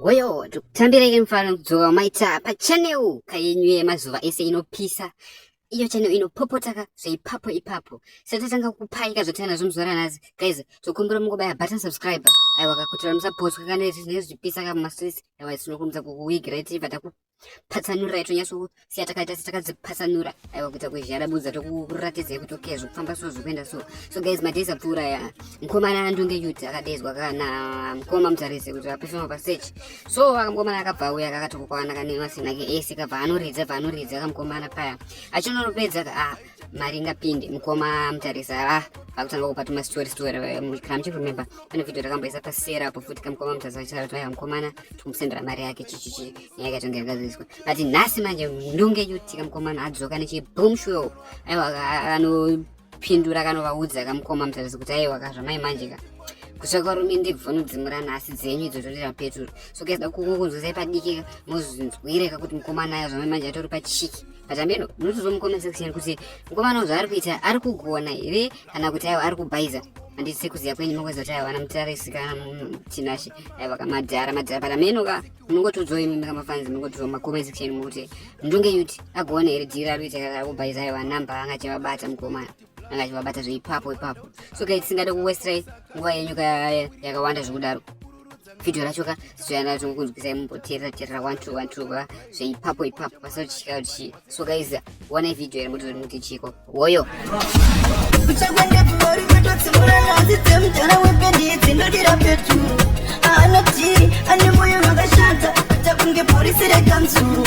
Woyo, tikutambirei mfana kudzoka umaita pachanel kayenyu yemazuva ese inopisa iyo channel inopopotaka zveipapo ipapo satatanga kupaika zvatanga nazvo muzuva ranhasi guys tokumbira mungobaya button subscribe aiwa kakutira musapotwa kana izvi zvinenge zvichipisa kamumastreets aiwa tinokumbidza kukuwigira itiva taku patsanura yatonyasosiya takaita setakadzipatsanura aiwa kuita kuzhara budza tokuratidzai kuti okay zvokufamba so zvokuenda so so guys madays apfuura ya mukomana andunge yuti akadezwa kana mukoma mutarisi kuti apefema pasech so akamukomana akabva auya akatokokwana kanemasina ke ese kabva anoridza bva anoridza kamukomana paya achinoropedza ka ah mari ingapinde mukoma mutarisa a ah, vakutanga kupa tuma story story eh, kana muchikuremember pane video rakamboisa pasera apo futi kamukoma mutarisa vachitaura kuti vaya mukomana tikumusendera mari yake chichichi nyaya ikatonge yakazoiswa but nhasi manje ndonge yuti kamukomana adzoka nechibom show aiwa anopindura kanovaudza kamukoma mutarisa kuti aiwa kazvamai manje ka kutsvaka varume ndebvu vanodzimura nhasi dzenyu idzo zvorera peturu so kazida kukunzwisai padiki mozvinzwireka kuti mukomana ayo zvamai manje atori pachiki Pachambeno ndinotozo mucomment section kuti mukomana zvaari kuita ari kugona here kana kuti aiwa ari kubhaiza handisi kuziva kwenyu makuziva kuti aiwa ana mutarisi kana chinashe aiwa ka madhara madhara parameno ka munongotodzwa imi makamafanzi munongotodzwa mumacoment section mokuti ndunge yuti agone here dhiri ari kuita kakubhaiza aiwa namba angachevabata mukomana anga achivabata zveipapo ipapo so ka tisingade kuwestrai nguva yenyu ka yakawanda zvekudaro vhidhiyo racho ka zvichayana zvokunzwisai mumboteerera teerera one two one two ka zveipapo ipapo pasina kuti chika kuti chii so guys wonai vhidhiyo iri motozoti muti chiko woyo anoti ane moyo wakashata takunge porisi rekanzuru